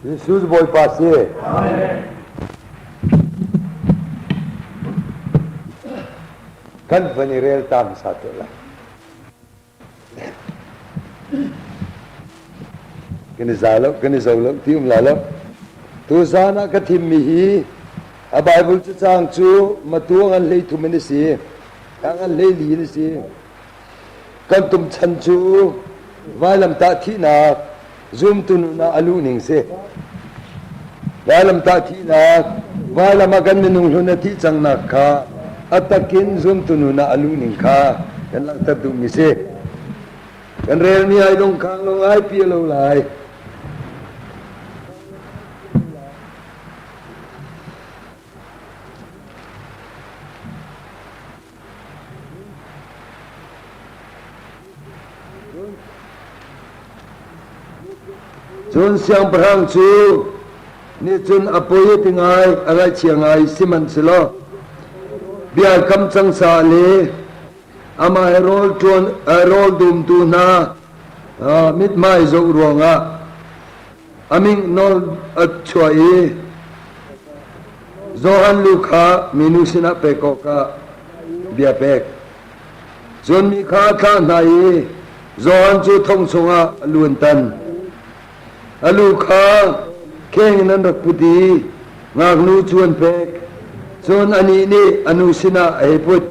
Jesuh Bawipa si. Kan van i relta hmasa te lai. Kan i za loh, kan i zo loh, ti um la loh. Tu zan ah ka thimmi hi a Bible cu caang cu matuang an hlei thum in a si. Tang an hlei li in a si. Kan tum chan cu vailamtah thihnak, zumtununak a luhning si. Vailamtah thihnak, vailam ah kan minung hlun a thih cangnak kha a takin zumtununak a luhning kha kan langhter duhmi si. Kan relmi ai dongkhang lo ai pia lo lai. Cun siangpahrang cu nicun a poi a ti ngai a raihchia ngai sihmanhselaw bia kam cang sa le amah he rawl ṭuan rawl dumtu hna mithmai zoh ruangah a ming nawl a chuah i Johan lu kha minu sinah pek awkah bia pek. Cun mi kha a thlah hna i Johan cu thong chungah a luan tan. A lu kha kheng in an rak put i ngaknu cu an pek. Cun anih nih a nu sinah a hei put.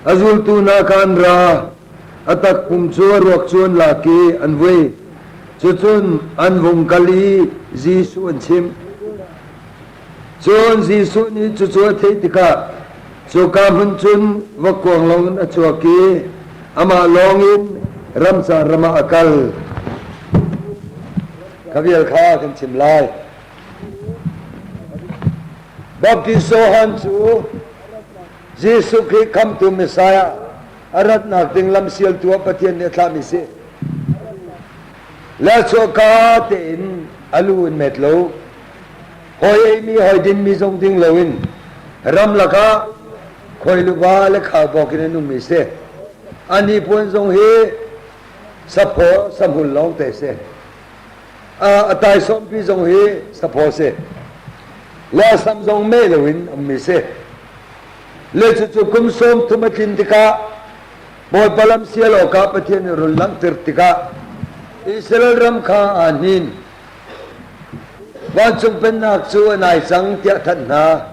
A zultu hna kha an ra, a takpum cu a ruak cu an lak i an vui. Cucun an vung kal i Jesuh an chimh. Cun Jesuh nih cucu a theih tikah cuka hmun cun va kuang loin a cuak i amah lawng in ramca ram ah a kal. Ka vial kha kan chim lai. Baptist Johan cu Jesuh Khrih khamtu Messiah a ratnak ding lamsialtu ah Pathian nih a thlahmi si. Le chawhka tein a lu in met lo. Hawi eimi hawi dinmi zong ding loin ramlak ah khuailuva le khaubawk in an ummi si. A nipuan zong hi saphaw samhul lawngte si. A, a taisawmpi zong hi saphaw si. Le a sam zong meh loin ummi si. le cucu kum sawm thum a tlin tikah Bawipa lam sial awkah Pathian nih run langhter tikah Israel ram kha aa hnin vancung pennak cu a nai cang tiah thanh hna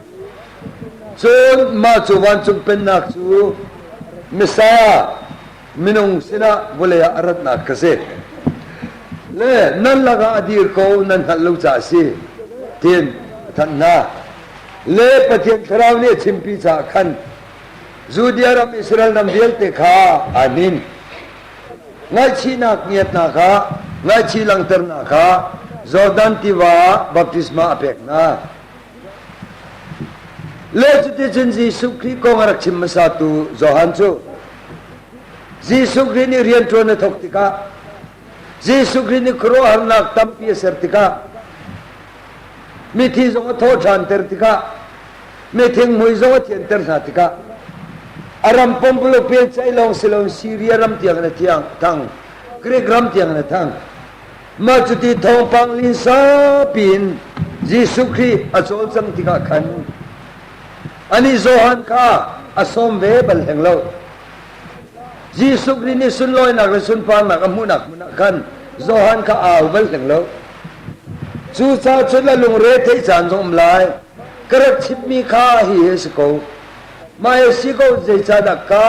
cun mah cu vancung pennak cu Messiah minung sinah vawlei ah a ratnak ka si le nan lakah a dir ko nan hngalh lo ca si tin thanh hna le pathian thlarau nih a chimpi caah khan Judea ram Israel ram vialte kha anin ngaihchihnak ngiatnak kha ngaihchih langhternak kha Jordan tiva ah baptisma a pek hna le cuticun Jesuh Khrih kong a rak chim hmasatu Johan cu Jesuh Khrih nih rianṭuan a thawk tikah Jesuh Khrih nih khuaruahharnak tampi a ser tikah mithi zong a thawhṭhanter tikah mithingmui zong a thianter hna tikah a ram pumpuluk piancaih lawng si loin Siria ram tiangin a thiang thang Grik ram tiangin a thang mah cuti thawngpang linsa piin Jesuh Khrih a cawlcang tikah khan Anih Johan kha a sawm ve bal hleng lo. Jesuh Khrih nih sunlawinak le sunparnak a hmuhnak hmun ah khan Johan kha au bal hleng lo. Cucaah cun a lungre theih caan zong um lai. Ka rak chimmi kha hihi a si ko. Mah a si ko zeicahdah ka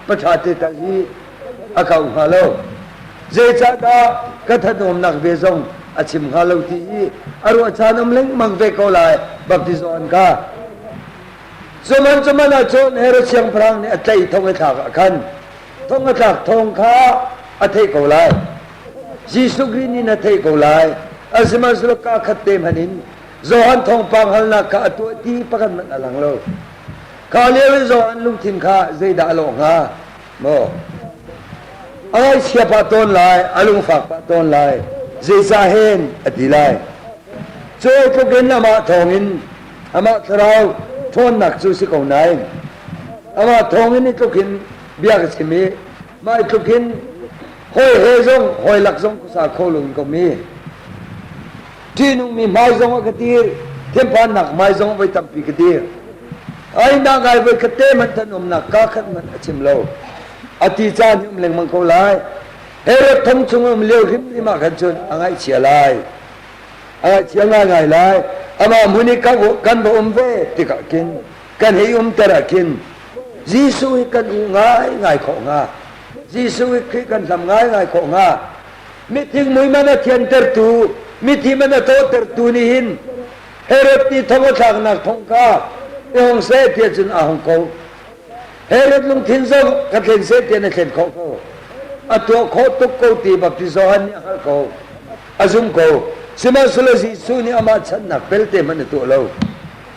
paṭha te tal hi a kau hnga lo zeicahdah ka thatawmnak ve zong a chim hnga lo ti i a ruah caan um lengmang ve ko lai baptizo an ka cuman cuman ah cun Herod siangpahrang nih a tlaih thong a tlak ah khan thong a tlak thong kha a theih ko lai Jesuh Khrih nih na theih ko lai asihmanhsehlaw ka khat te hman in Johan thawngpang halnak kha a tuah ti pakhat hmanh a lang lo kha lio i Johan lungthin kha zeidah a lawh hnga Maw a ngaihchia pah tawn lai, a lungfak pah tawn lai, zeicah hen a ti lai. Cuai tluk in amah thawng in amah thlarau ṭhawnnak cu si ko nain amah thawng in i tluk in bia ka chim i mah tluk in hawi he zong hawi lak zong ka sa kho lo in ka um i ṭihnungmi hmai zongah ka dir tlemhpannak hmai zongah voi tampi ka dir ainak ai voi khat te hmanh an umnak ka khat hmanh a chim lo a ti ca ni um lengmang ko lai herod thong chung um lio hrimhrim ah khan cun a ngaihchia lai a ngaihchia ngaingai lai amah mun i kan va um ve tikah kin kan hei um tera kin Jesuh hi kan u ngai ngai khawh nga Jesuh hi Khrih kan hlam ngai ngai khawh nga mithim muiman a thiantertu mithim a tawtertu nih hin Herod nih thongothlaknak thong kha i hong seh ti cun a hong ko Herod lungthin zong ka thlen seh ti na thlen kho ko a tuah khawh tuk ko ti baptizo han nih a hngalh ko a zum ko sihmanhsehlaw Jesuh nih amah channak belte hmanh a tuah lo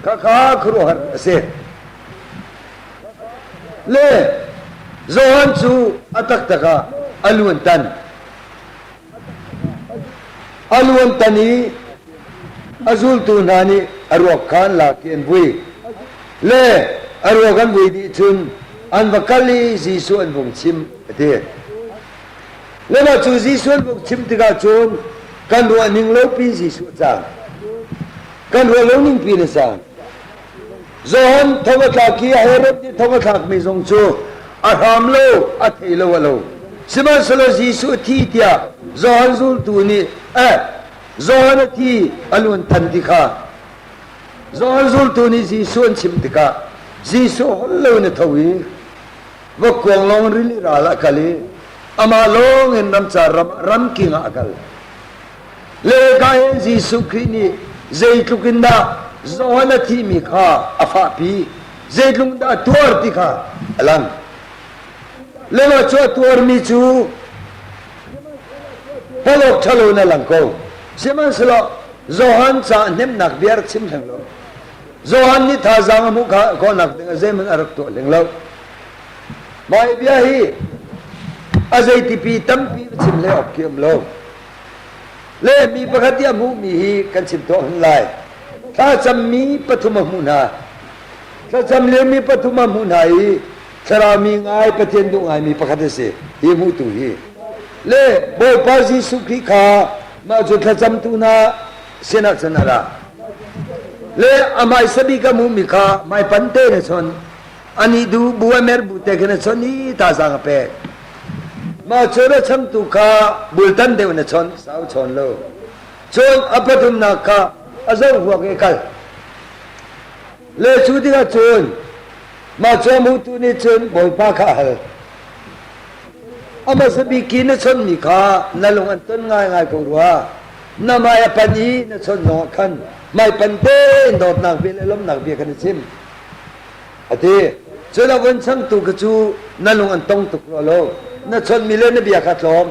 khakha khuaruahhar a si Le Johan cu a taktak ah a luan tan. A luan tan i a zultu hna nih a ruak kha an lak i an vui. Le a ruak an vui dih cun an va kal i Jesuh an vung chim a ti. Le mah cu Jesuh an vung chim tikah cun kan ruah ning lopi Jesuh a cang. Kan ruah lo ning pi na cang. John thong a tlak i Herod nih thong a thlakmi zong cu a hram lo, a thei lo a lo. Sihmanhsehlaw Jesuh a thi tiah John zultu nih eh John a thi a luan than ti kha John zultu nih Jesuh an chimh tikah Jesuh holh lo in a tho i va kuang lawng rili ral ah kal i amah lawng in ramcar ram ram king ah a kal. Le ka hi Jesuh Khrih nih zeitluk in dah Johan a thihmi kha a fahpi, zeitluk in dah a tuar ti kha a lang. Le mah cu a tuarmi cu palawk ṭhalo in a lang ko. Sihmanhsehlaw Johan ca hnemnak bia rak chim hleng law, Johan nih thazaang a hmuh kha a kawhnak dingah zeihmanh a rak tuah hleng lo. Mah hi bia hi a zei tipi tampi va chim le awk khi um lo. Lehmi pakhat i a hmuhmi hi kan chim tuah hun lai. Thlacammi pathum a hmuh hna. Thlacam liomi pathum a hmuh hna i thlarau mi ngai Pathian duh ngaimi pakhat a si hi hmutu hi. Le Bawipa Jesuh Khrih kha mah cu thlacamtu hna sinah cun a ra. Le amah i sabik a hmuhmi kha hmaipan te in a chon. ani du bua mer bu te kene chon ni ta za ka pe ma chora cham tu ka bultan deu na chon sau chon lo chon apatum na ka azo huwa ke kal le chu dinga chun ma chom hu tu ni chun boipa kha hal ama sabi ki na chon mi kha na lung an ton ngai ngai ko rua na mai pan hi na chon no khan mai pan te dot nak bil elom nak bi kan chim a ti. Culoin changtu kha cu na lung an tong tuk rua lo. Na chawnhmi le na bia kha tlawm.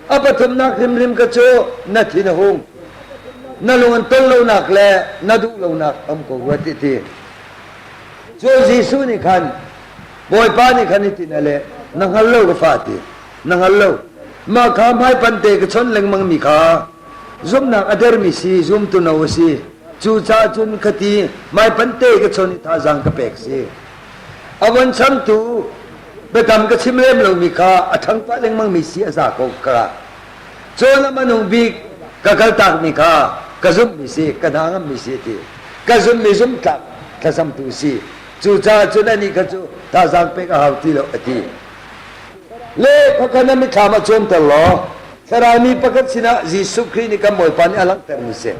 A pathumnak hrimhrim kha cu na thin a hung. Na lung an tol lonak le na duh lonak a um ko rua ti ti. Cu Jesuh nih khan Bawipa nih khan hitin a leh, na hngal lo ka fa ti. Na hngal lo. Mah kha hmaipan te ka chon lengmangmi kha Zumnak a dermi si, zumtuno a si. Cucaah cun khati maipante ka chon i thazaang ka pek si. A von changtu biatam ka chim lem lomi kha a ṭhang pah lengmangmi si a za ko ka. Cun a manung bik ka kaltakmi kha ka zumhmi si, ka hna ngammi si ti. Ka zummi zumtlak thlacamtu si. Cucaah cun anih kha cu thazaang pek a hau ti lo a ti. Le pakhat na mithlam a cuanter law Farai mi pakhat sinah Jesuh Khrih nih kan Bawipa nih a langhtermi si.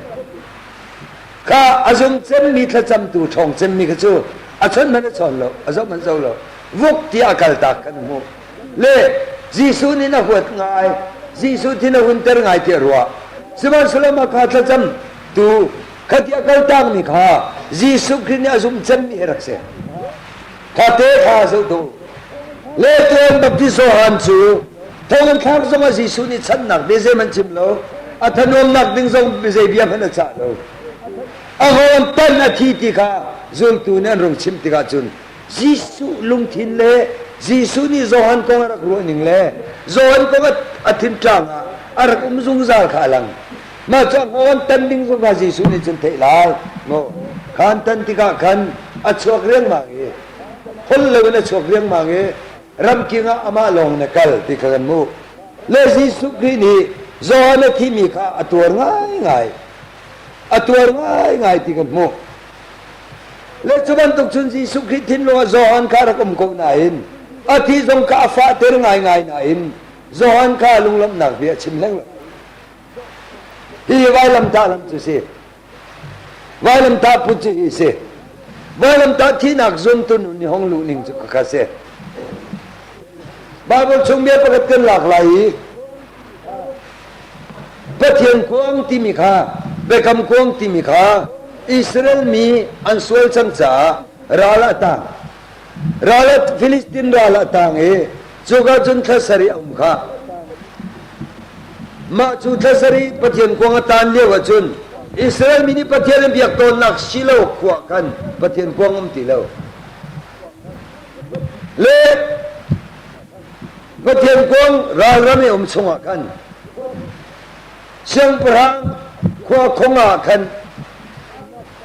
Kha a zung cemmi thlacamtu ṭhawng cemmi kha cu a chon hmanh a chawn lo, a zoh hmanh zo lo. Vuk tiah a kaltak kan hmuh. Le Jesuh nih na huat ngai, Jesuh thi na hunter ngai tiah ruah. Sihmanhsehlaw mahka thlacamtu kha ti a kaltakmi kha Jesuh Khrih nih a zumh cemmi hi rak si. Kate kha zoh dawh. Le tuan baptizo han cu thonginn thlak zongah Jesuh nih channak bia zeihmanh chim lo. A thanuamnak ding zong zei bia hmanh a cah lo. A hawn tan a thi ti kha zultu nih an rung chimh tikah cun Jesuh lungthin le Jesuh nih Johan kong a rak ruahning le Johan kong a, a thinṭang ah a rak um zungzal kha a lang. Mah cang on tan ding zungka Jesuh nih cun theih lai. Ngo khan tan tikah khan a chuak riangmang i hol loin a chuak riangmang i ramking ah amah lawng in a kal ti kha kan hmuh. Le Jesuh Khrih nih Johan a thimi kha a tuar ngaingai. A tuar ngaingai ti kan hmuh. Le cu bantuk cun Jesuh Khrih thinlung ah Johan kha rak um ko nain a thi zong kha a fahter ngaingai nain Johan kha lunglamhnak bia a chim hleng lo. Hi vailamtah lam cu si. Vailamtah put cu hi si. Vailamtah thihnak zuntun ni hong luh ning cu ka si. Bible chung bia pakhat kan lak lai i Pathian kuang timi kha Biakam kuang timi kha Israel mi an sual cang caah ral ah tang Ralat Filistin ral a tang i cuka cun thla sarih a um kha. Mah cu thla sarih Pathian kuang a tan lio ahcun Israel mi nih Pathian an biak tawnnak Shilo khua khan Pathian kuang um ti lo. Le Pathian kuang ralram i um chungah khan siangpahrang khua khong ah khan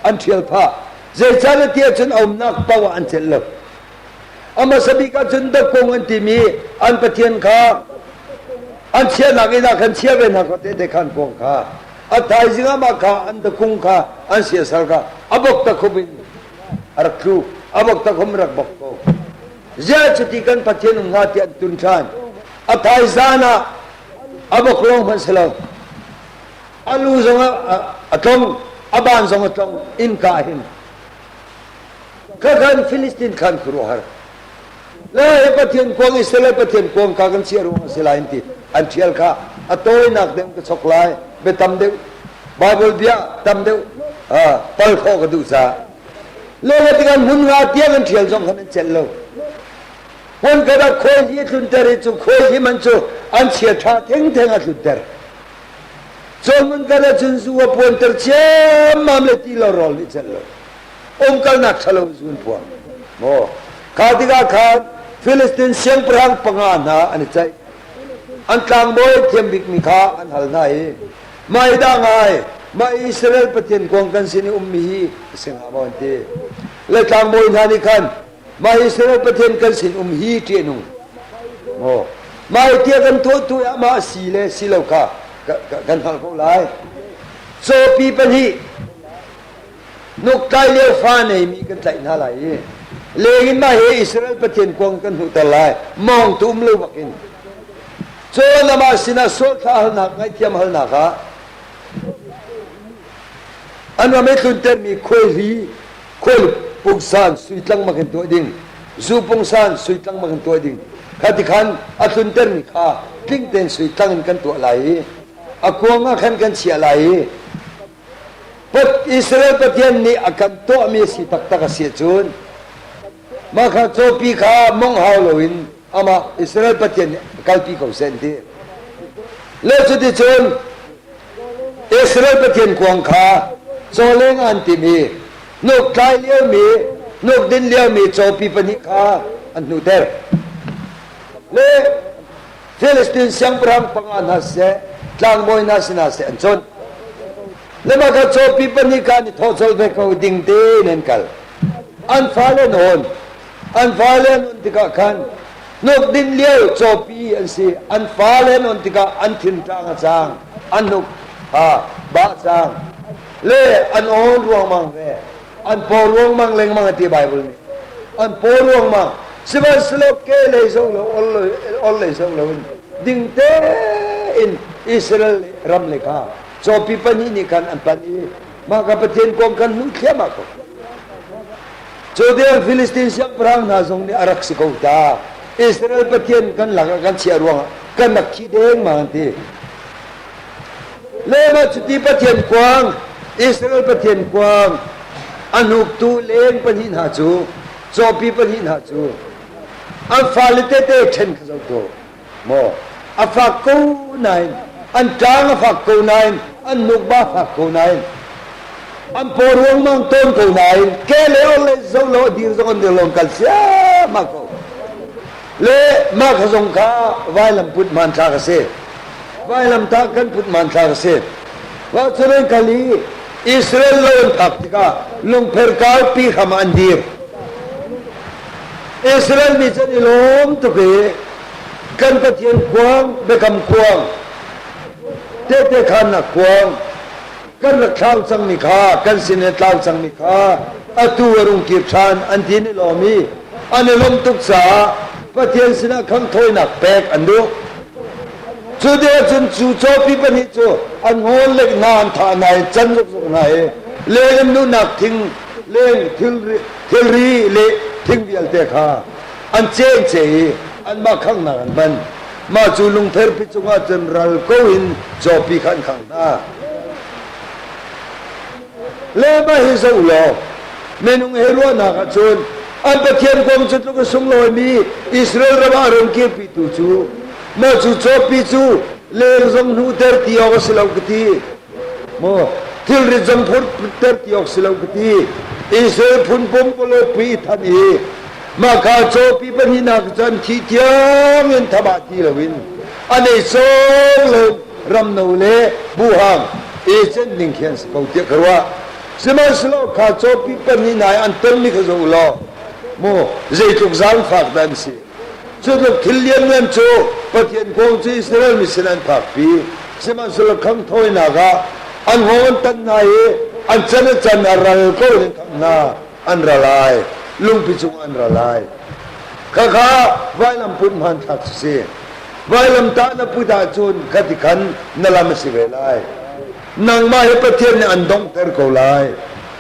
an ṭhial phah zeicahtiah cun a umnak paoh ah an celh lo a hmasa bik ah cun dapkung an timi an pathian kha an chiahnak inn ah khan chia ve hna ko tehte khan kong kha a thaizing ah mah kha an dapkung kha an siasal kha a bok takhup in a rak tlu a bok takhum rak bok ko ziah cuti kan pathian um hnga ti an tun ṭhan a thaizan ah a bok lawng hmanh si lo a lu zongah a tlong a ban zong a tlong innka hin ka kan Filistin khan khuruhar le he pathian kuang i sele pathian kuang ka kan chiah ruang a si lai ti an ṭhial kha a tawinak deuh ka chok lai be tam deuh bible bia tam deuh pal khawh ka duh ca le le tikhan hmun nga tiang an ṭhial zong khan an celh lo Puan ah khuai hi a tlunter i cu khuai hi man cu an chia ṭha thengtheng a tlunter. Cun mun kar ahcun zu a puanter ciammam le ti lo rawl nih cel lo. Umkalnak ṭhalo zu an puang. Maw kha tikah khan Filistin siangpahrang panga hna an i ceih. An tlangbawi thiam bikmi kha an hal hna i, Mah hi dah ngai, mah Israel Pathian kuang kan sin i ummi hi a si hnga maw an ti. Le tlangbawi hna nih khan Mah hi silo Pathian kan sinum hi ṭiahnung maw mah hi tia kan thawhtu amah si le si lo kha kan hngalh ko lai. Cawpi pahnih nukkai lio fa neimi kan tlaih hna lai i lengin mah hi Israel Pathian kuang kan hmuhter lai mawngtu um lo bakin cun amah sinah sualthla halnak ngaihthiam halnak ah an ram i tluntermi khuai hli khul pungsan sui tlangmak in tuah ding zu pungsan sui tlangmak in tuah ding kha ti khan a tluntermi kha tling tein sui tlang in kan tuah lai i a kuang ah khan kan chiah lai i Israel Pathian nih a kan tuahmi a si taktak a si cun mah kha cawpi kha mong hau loin amah Israel Pathian nih kalpi ko seh an ti lo cuticun Israel Pathian kuang kha chawleng an tim i hnuk tlai liomi hnuk din liomi cawpi pahnih kha an hnuter le Filistin siangpahrang panga hna siseh tlangbawi hna sinah seh an cuanh le mah kha cawpi pahnih kha an i thawh colh ve ko ding te in an kal an fale nawn an fale nun tikah khan hnukdin lio cawpi an si an fale nun tikah an thinṭang a cang an hnuk ha bah cang le an aw ruangmang ve an paw ruangmang lengmang a ti Baibal nih an paw ruangmang sihmanhsehlaw ke lei zong lo ol lei zong lo in dingte in Israel ram le kha cawpi pahnih nih khan an pan i mah ka Pathian kong kan hmu thliahmah ko Judean Filistin siangpahrang hna zong nih a rak si ko ta. Israel Pathian kan lakah kan chiah ruangah kan rak thi dengmang an ti. Lema cuti Pathian kuang, Israel Pathian kuang, a hnuktu leng pahnih hna cu, cawpi pahnih hna cu, an fale tete ṭhen kha zoh ko. maw a fak ko nain an ṭang a fak ko nain an nukba a fak ko nain an paw ruangmang tawn ko nain ke le or le zo lo dir zong an dir lo kal ma ko le mah ka zong kha vailam put man tha ka si vailam ta kan put man tha ka si wa churen kali Israel lo an phak tikah lungpher kal pi kham an dir Israel mi cu i lawm tuk i kan Pathian kuang biakam kuang tehte khannak kuang kan rak thlang cangmi kha kan sin i tlang cangmi kha atu a rung kir ṭhan an ti ni lawm i an i lawmh tuk caah Pathian sinah khang thawinak pek an duh. Cu te ahcun cu cawpi pahnih cu an ngawn lek hna an thah hna i can zukzuk hna i leng in duhnak thing leng thilri thilri le thing vialte kha an cengce i anmah khanghnak an hman. Mah cu lungtherpi cungah cun ral ko in cawpi kha an khang hna. Le mah hi zoh law minung he ruahnak ah cun an Pathian kong cu tluk a sunglawimi Israel ram ah run kirpitu cu mah cu cawpi cu ler zong hnuter ti awk a si lo ka ti. Maw thilrit zong phurter ti awk si lo ka ti. Israel phun pum kawlawpi than i maka cawpi pahnihnak cun khi tiang in thaba ti loin an ei sawng lo ramno le buhang i chen ding khi an si ko tiah ka ruah sihmanhsehlaw kha cawpi pahnih nai an tonmi kha zoh u law mu zeitluk zaangfak dah an si Cu tluk thil lianngan cu Pathian kong cu Israel mi sin an phakpi. Sihmanhsehlaw khang thawinak ah an hawng an tanh hna i an can a can a ral ko hi khamh hna an ra lai, lungpi cungah an ra lai. Khakha vailam put hmanthlak si si. Vailamtah na put ahcun ka ti khan na lam a si ve lai. Nangmah hi Pathian nih an donghter ko lai.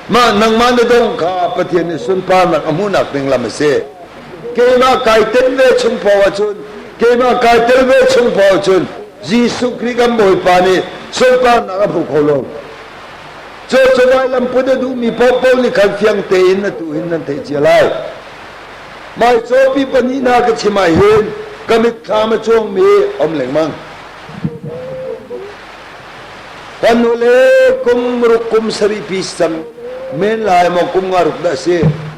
Mah nangmah na dong kha Pathian nih sunparnak a hmuhnak ding lam a si. keimah kai tel ve chung paoh ahcun keimah kai tel ve chung paoh ahcun Jesuh Khrih kan Bawipa nih sunparnak a hmu kho lo cucuvai lamput a duhmi paohpaoh nih khan fiang tein atu hin nan theih cia lai mai cawpi pahnih na ka chim ah hin ka mitthlam a cuangmi om lengmang kan ule kum ruk kum saripi sam men lai maw kum nga ruk dah si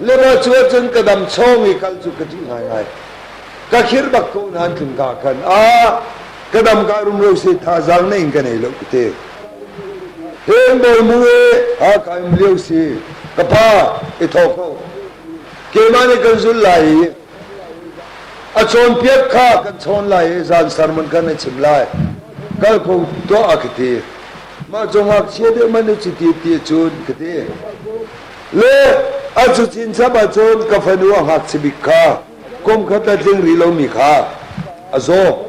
Lemacu ahcun ka dam chawng i kal cu ka ṭih ngaingai. Ka khirh bak ko nain tlunka khan a ka damka rumro se thazaang na in ka nei lo ka ti. Hengbawi mu e Hakha um lio si ka pa i thawk ko. Keimah nih kan zulh lai i a chawnpiak kha kan chawn lai i zan sermon kan i chim lai. Kal ko tuah a ka ti. Mah cung ngakchia deh man na ci ti ti cun ka ti. le a cucin chap ahcun ka fanu a ngakchia bik kha kum khat a tling rih lomi kha a zaw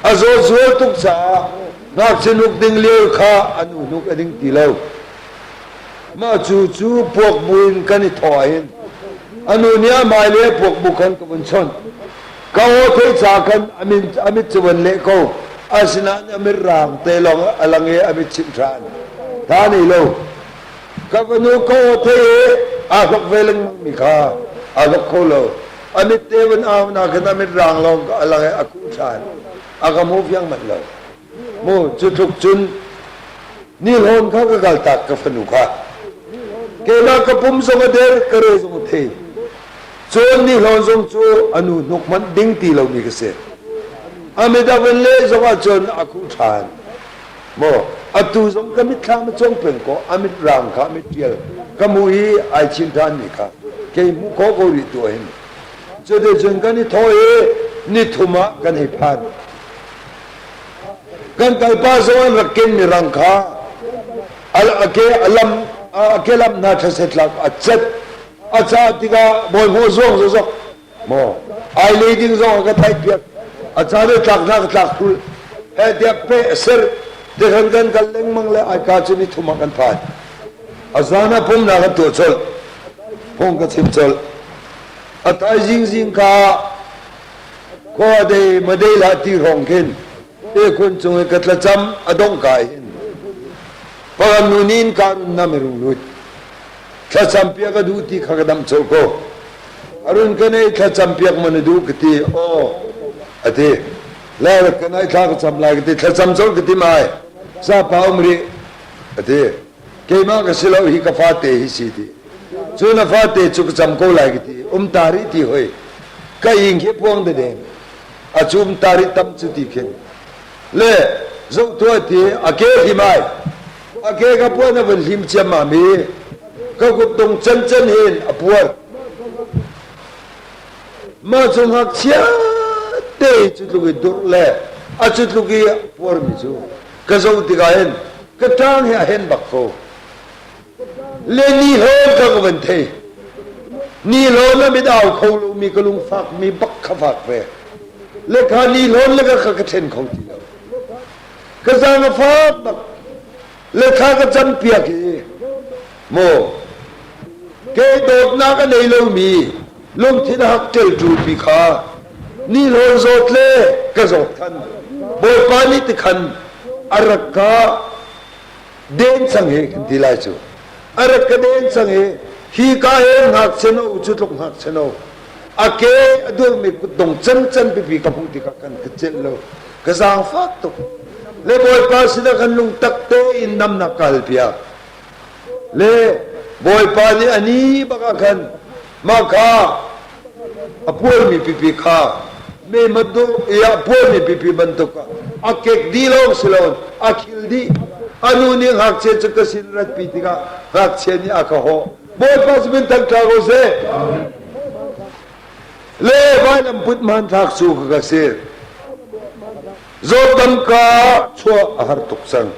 a zaw zual tuk caah ngakchia hnuk ding lio kha an u hnuk a ding ti lo mah cu cu puak bu in kan i thaw ahhin anu nih a mai le puak bu khan ka vun chawnh ka aw thei cha khan amin amit cu van le ko asinain amit raang te long a lang i amit chim than tha nei lo ka fanu ko thei aa hlok ve lengmang mi kha aa hlok kho lo a mit te van au na khin a mit raang lo a lang i a kuh ṭhan a ka mu fiang manh lo mu cu tluk cun ni hlawn kha ka kal tak ka fanu kha kenak ka pum zong a der ka re zong a thei cun ni hlawn zong cu a nu hnuk manh ding ti lomi ka si a midang le zong ah cun a kuh ṭhan Maw atu zong ka mitthlam a cong peng ko a mit raang kha a mit ṭial ka mu i ai chin ṭhanmi kha kei hmuh khawh ko rih tu hin cuticun kan i thaw i ni thum ah kan hei phan kan kalpa zong an rak kenmi rang kha a ke a lam a ke lam hna ṭhasetlak a cat a cah tikah bawihnawh zuang zozok maw ai le ding zong ka taih piak a caan e tlak hna ka tlak kul he diak pe ser te kan kan kal lengmang le ai ka chin ni thuma kan thai a zan a pom na ka to chol pong ka chim chol a thai jing jing ka ko de ma de la ti rong kin te kun chung e ka tla cham adong kai hin pagan nu nin kan na merung lui thlacam piak ka duh ti kha ka damh col ko arun ka nei thlacam piak man duh ka ti aw a ti la ka nai thla ka cham lai ka ti thlacam col ka ti mai sa pa um ri a ti keima ka silo hi ka fa te hi si ti cu na fa te chu ka cham ko lai ka ti um ta ri ti hoi ka ing hi puang de de a chum tari tam chu ti khin le zohtuati a ke hlim ai a ke ka puan a vun hlim ciammam i ka kuttung cancan hin a puan mah cu ngakchia te cu tluk i dur le a cu tluk i a puarmi cu ka zo tikah hin ka tang hi a hen bak ko Le ni hlawn ka ka van thei. Ni hlawn na mit au kho lomi ka lung fakmi bak kha fak ve. Le kha ni hlawn le ka ka ka ṭhen kho ti lo. Ka zang a fak bak. Le kha ka cam piak i, maw, kei dawtnak a nei lomi lungthin a hak ṭelṭulmi kha ni hlawn zawt le ka zawt than. Bawipa nih tikhan a rak ka den cang hi kan ti lai cu a rak ka den cang hi hi ka he ngak cheno cu tluk ngak cheno a ke a durmi kut dong can can pipi ka hmuh tikah kan ka celh lo ka zaang fak tuk le bawipa sinah kan lung tak te in namnak kal piak le bawipa nih ani bakah khan mah kha a bualmi pipi kha memat dawh i a bualmi pipi bantuk a kek dih lawng si lo a khil dih a nu nih ngakchia cu ka sin ratpi tikah ngakchia nih a ka hawh bawipa cu min than tla ko seh le vailampunt hmanthlak cu ka ka sin zawtdam ka chuah a har tuk cang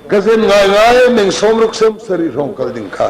ka zen ngai ngai meng som ruk sem sari hrawng kal ding kha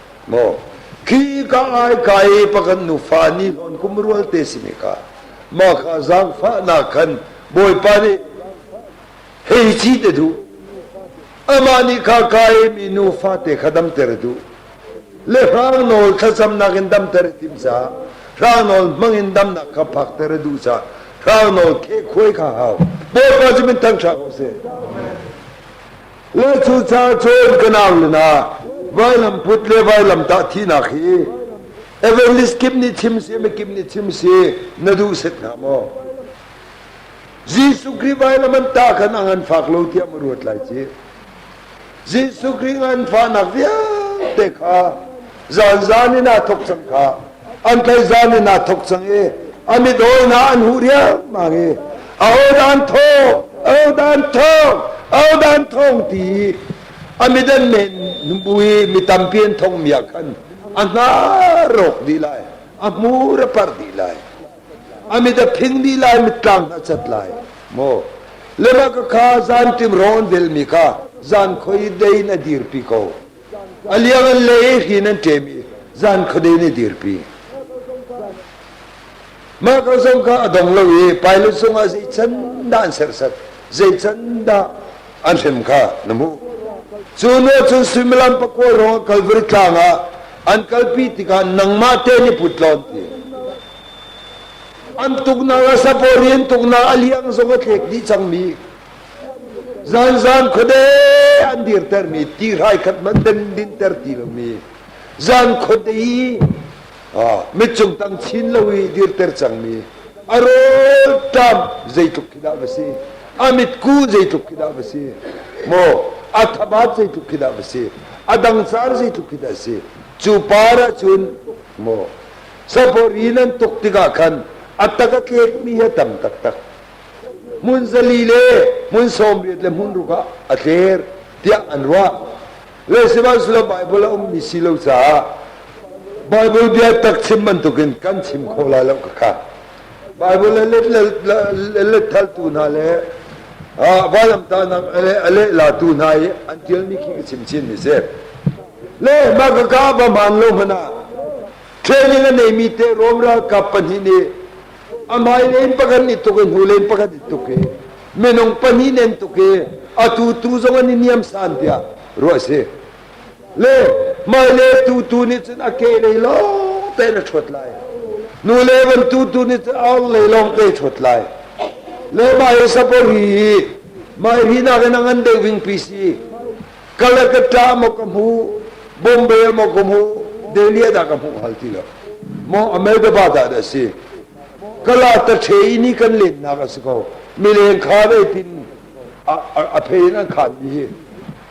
maw khi ka ngai ka i pakan nufa ni on kum rual te si ne ka ma kha zangfa na khan bawipa ni hei chi te du ama ni kha kai mi nufa te khadam ter du le rang nol thlacam nak in dam ter tim sa rang nol mang in dam nak kha phak ter du sa rang nol ke khoi kha hau bawipa ji min thang sha ko se Le cucaan cun ka naulin ah vailamput le vailamtah thihnak hi evangelist kim nih chim si mikip nih chim si na duh set hnga maw Jesuh Khrih vailam an ta khan ang an fak lo tiah ma ruat lai ci Jesuh Khrih ngan fahnak vialte kha zan zan in aa thok cang kha an tlaih zan in aa thok cang i a mit hawina an huh riangmang i a hodan thawng ahodan thawng ahodan thawng ti a midan men numbu i mi tampi an thong miak khan a hna rawk di lai a hmur a par di lai a mit a phing di lai mittlang a cat lai mo lema ka kha zan tim ron vel mi kha zan khoi dein a dir pi ko A liang an le i hrin an ṭem i zan khuade nih dirpi. Mah ka zong kha a dong lo i Pilate sungah zei can dah an serhsat, zei can dah an hrem kha na hmuh. Cu nu cun suimilam pakua ruangah Kalvari tlang ah an kalpi tikah nangmah te nih put lawn ti. An tuknak a sapawri an tuknak a liang zong a tlek dih cangmi Zanzan khuade an dirtermi ti hrai khat hmanh den dinter ti lomi zan khuade i mitcung tang chin lo i dirter cangmi a rawl tam zeitluk khi dah va si a mitku zeitluk khi dah va si maw a thabat zeitluk khi dah va si a dangsar zeitluk khi dah si cu par ahcun maw sapori nan tuk tikah khan a tak a tlekmi hi a tam taktak hmun zali le hmun sawmriat le hmun ruk ah a tler tiah an ruah sihmanhsehlaw Baibal a ummi si lo caah Baibal bia tak chim bantukin kan chim kho lai lo kaka Baibal a let lethaltu hna le vailamtanak a leh latu hna i an ṭialmi khi ka chim chin mi si le mah ka ka va man lo hmana training a neimi te Rome ralkap pahnih nih a mailen pakhat ni tuk i hnulen pakhat ni tuk i minung pahnih nen tuk i a tu tu zong an i niam san tiah ruah si le maile tu tu nih cun a ke lei lo tein a ṭhuat lai nu le van tu tu nih cun aur lei lawng ke ṭhuat lai le mai sapori hi mai ri nakin a ngan deuh ving pc Kalakata maw ka hmu Bombay maw ka hmu Delhi dah ka hmuh hal ti lo maw Ahmedabad ah dah si kala ta ṭhe i ni kan letnak a si ko mileng kha dei tin a, a, a phe in an khan mi hi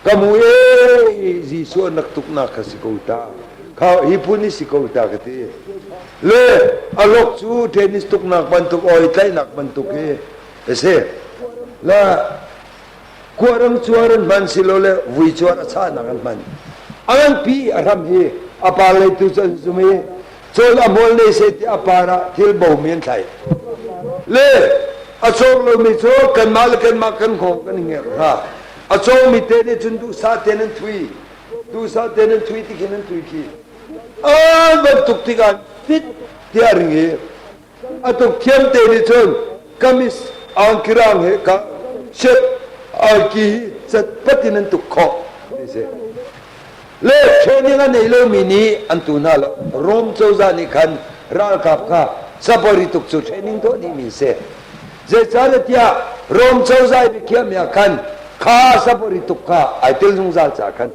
ka hmu e Jesuh an rak tuknak kha si ko ta kha hi phun hi si ko ta ka ti le alok cu tennis tuknak bantuk oi tlaihnak bantuk hi a si la Kuahram cuar an hman silole vui cuar a chahnak an hman. A nganpi a hram hi a par lei tu cu an zum i col a mol nei se ti a par ah thil bomi an thlai. Le a cawng lomi cu kanmah le kanmah kan hawk kan i ngerh hna. A cawngmi te nih cun duhsah tein an thui. Duhsah tein an thui ti khin an thui khi. An bantuk tikah fit tiah a ring i A tuk thiam te nih cun kamis angkirang he ka shirt angki hi cat pat in an tuk khawh ti si le training a nei lomi nih an tu hna lo Rome cozah nih khan ralkap kha sapari tuk cu training tuah ni min si zeicahtiah Rome cozah biakhiahmi ah khan kha sapari tuk kha ai tel zungzal ca khan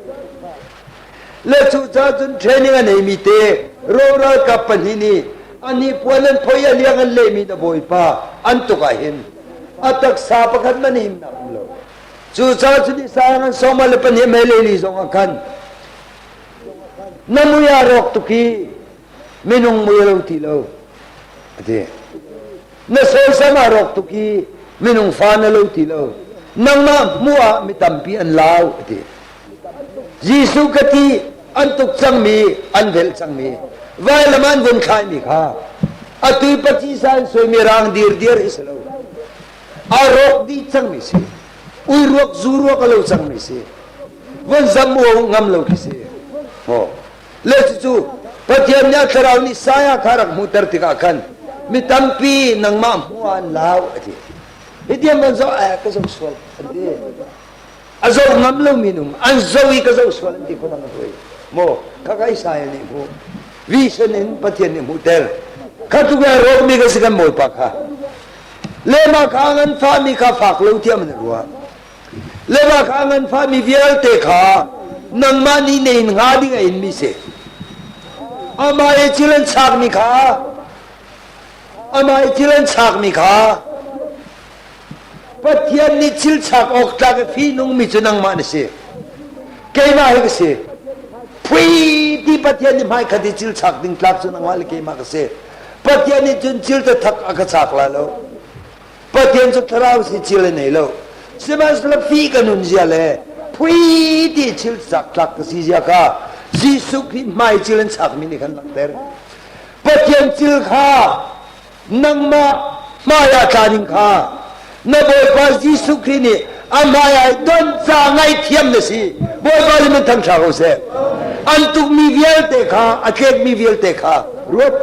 Le cucaah cun training a neimi te roralkap pahnih nih a hnipuan an phoi a liang an lehmi na bawipa an tuk ah hin a taksa pakhat man hin a um lo cucaah cun Isaiah ngan sawma le pahnih mei leili zong ah khan na mui a rawk tuk i minung mui a lo ti lo a ti na sawisam ah rawk tuk i minung fa na lo ti lo nangmah hmuh ah mi tampi an lau a ti jesuh ka ti an tuk cangmi an velh cangmi vailam an vun thlaimi kha atu paci san soimi rang dir dir is lo a rawk di cangmi si ui ruak zu ruak a lo cangmi si vun zam mo ngam lo ti si ho le cucu Pathian nih a thlarau nih saya kha rak hmuhter tikah khan mi tampi nangmah hmuan lau a ti hitiam an zoh eh ka zoh sual an ti a zoh ngam lo minung an zoh i ka zoh sual an ti khon ang hui mo kha kai saya nih hmu vision in Pathian nih hmuhter kha tu ke rok mi ka si kan mol pa kha le ma kha ngan fa mi kha fak lo thiam na ruwa Lebakha nganfahmi vialte kha nangmah nih na in hnga ding a inmi si. Amah i thil an chakmi kha amah i thil an chakmi kha Pathian nih thil chak awk tlak i fihnungmi cu nangmah na si. Keimah hi ka si. Phui ti Pathian nih hmaikhat i thil chak ding tlak cu nangmah le keimah ka si. Pathian nih cun thil tathak a ka chak la lo. Pathian cu thlarau si cil an nei lo. Sihmanhsehlaw fih ka nun zia le phui ti chil zakthlak ka si zia kha Jesuh Khrih hmai cil an sakmi nih khan langhter. Pathian cil kha nangmah hmaiah tla ding kha na Bawipa Jesuh Khrih nih a hmaiah i don ca ngaithiam na si. Bawipa nih min thangṭha ko seh. An tukmi vialte kha, a tlekmi vialte kha ruat.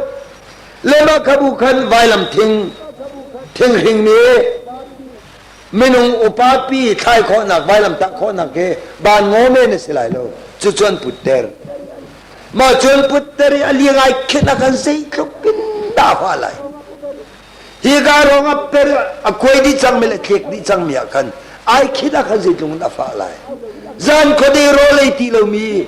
le mahkhabu khan vailam thing thinghring mi minung upapi thlai khawhnak vailam tah khawhnak hi ban ngaw men a si lai lo cucu an putter mah cun putter i a liang ai khin a kan zei tluk in dafa lai hi ka rong a per a kuai di cang mi le khek di cang mi ah khan ai khin a kan zei tlung in a fa lai zan khode ro lei ti lomi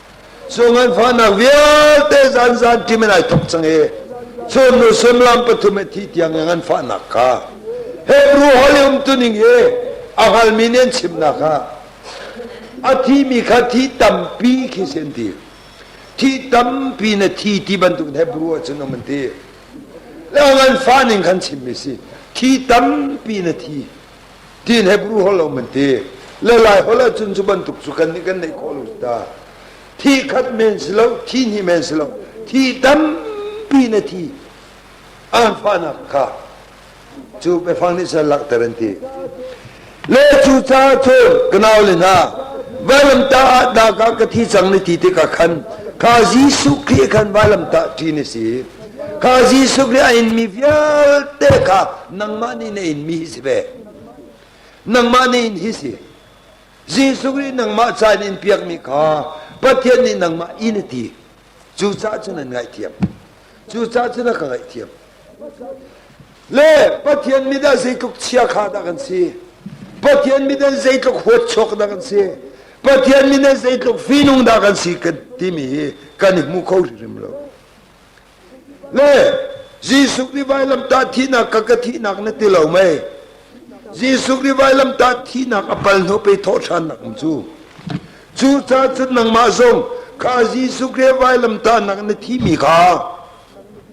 Cu nganfahnak vialte zanzan tim in ai thok cang i sunnu sullam pathum i thi tiang i nganfahnak kha Hebrew holh i umtuning i a hngalmi nih an chimnak ah a thimi kha thi tampi khi si an ti thi tampi na thi ti bantuk in Hebrew ahcun um an ti le nganfah ning khan chimmi si thi tampi na thi Tin Hebrew hol lo man ti. Le lai hol ahcun cu bantuk cu kan nih kan neih khawh lo ta. Thi khat men si lo, thi hnih men si lo, thi tampi na thi anfahnak kha cu biafang nih cun langhter an ti. Le cu ca cu kanau le hna vailamtah ah dah ka thi cang ni ti tikah khan kha Jesuh Khrih khan vailamtah ṭi ni si. Kha Jesuh nih a inmi vialte kha nangmah nih na inmi hi si ve. Nangmah nih in hi si. Jesuh nih nangmah ca in in piakmi kha Pathian nih nangmah in a ti. Cucaah cun an ngaihthiam. Cucaah cun a ka ngaihthiam. Le Pathian mit ah zeitluk chiakha dah kan si. Pathian mit ah zeitluk huat chuak dah kan si. Pathian mit ah zeitluk fihnung dah kan si kan timi hi kan i hmu kho hrimhrim lo. Le Jesuh nih vailamtah thihnak ka ka thihnak na ti lo mei? Jesuh nih vailamtah thihnak a pal hnu pe thawhṭhannak in cu. Cu ca cun nangmah zong kha Jesuh Khrih vailamtahnak na thimi kha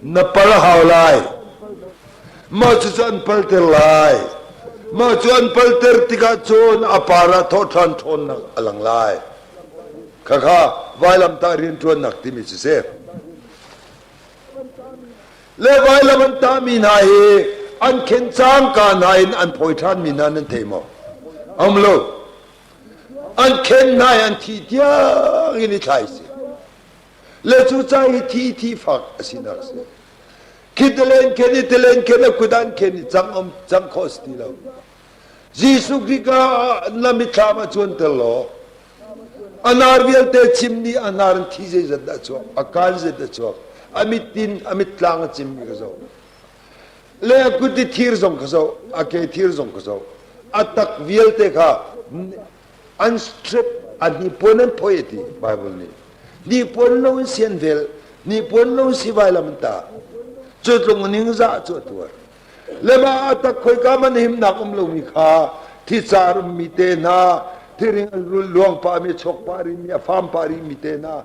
na pal hau lai. Mah cucu an palter lai. Mah cu an palter tikah cun a par ah thawhṭhan ṭhawnnak a lang lai. Khakha vailamtah rianṭuannak timi cu si. Le vailam an tahmi hna hi an khen cangka hna in an phawi ṭhanmi hna nan thei maw? A um lo. An khen hna i an thi tiang in i thlai si. Le cu ca hi thi thi fak a sinak si. Khi telen khen i telen khen a kut an khen i cang um cang khawh si ti lo. Jesuh Khrih ka ah na mithlam a cuanter law a nar vialte chimmi a nar in thi zeizat dah cuak a kaan zeizat dah cuak a mit in a mittlang a cimmi ka zoh le a kut i thir zong ka zoh a ke thir zong ka zoh a tak vialte kha an strip a nipuan an phoi ti Bible nih nipuan lo in sian vel nipuan lo in sivai lam ta cu tlung ning za cu a tuar Lema tak khoika man himnak um lomi kha thica rummi te hna, thiring an rul luang pahmi chawk pari mi a fam pari mi te hna